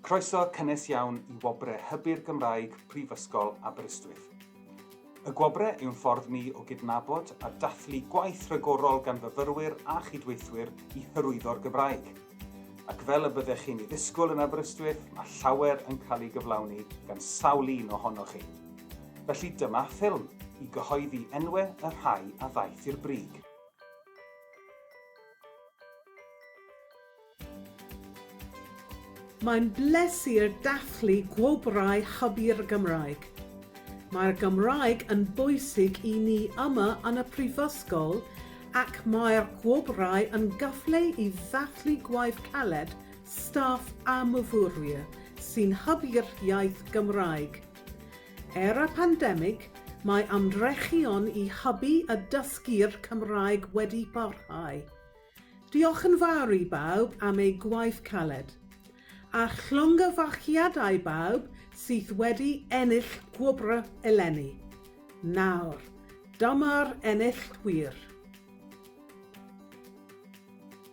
Croeso cynnes iawn i Wobre Hybu'r Gymraeg Prifysgol Aberystwyth. Y Gwobre yw'n ffordd ni o gydnabod a dathlu gwaith rhagorol gan fyfyrwyr a chydweithwyr i hyrwyddo'r Gymraeg. Ac fel y byddech chi'n ei ddisgwyl yn Aberystwyth, mae llawer yn cael ei gyflawni gan sawl un ohonoch chi. Felly dyma ffilm i gyhoeddi enwau y rhai a ddaeth i'r brig. Mae'n bleser dathlu Gwobrau Hybu'r Gymraeg. Mae'r Gymraeg yn bwysig i ni yma yn y Prifysgol ac mae'r Gwobrau yn gyfle i ddathlu gwaith caled staff a myfyrwyr sy'n hybu'r iaith Gymraeg. Er y pandemig, mae ymdrechion i hybu a dysgu'r Cymraeg wedi parhau. Diolch yn fawr i bawb am eu gwaith caled. A llongyfarchiadau bawb sydd wedi ennill gwobrau eleni. Nawr, dyma'r enillwyr.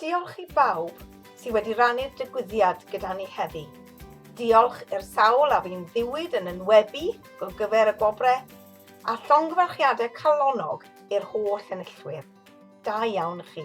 Diolch i bawb sydd wedi rannu'r digwyddiad gyda ni heddi. Diolch i'r sawl a fi'n ddiwyd yn enwebu o gyfer y gwobre a llongyfarchiadau calonnog i'r holl enillwyr. Da iawn chi.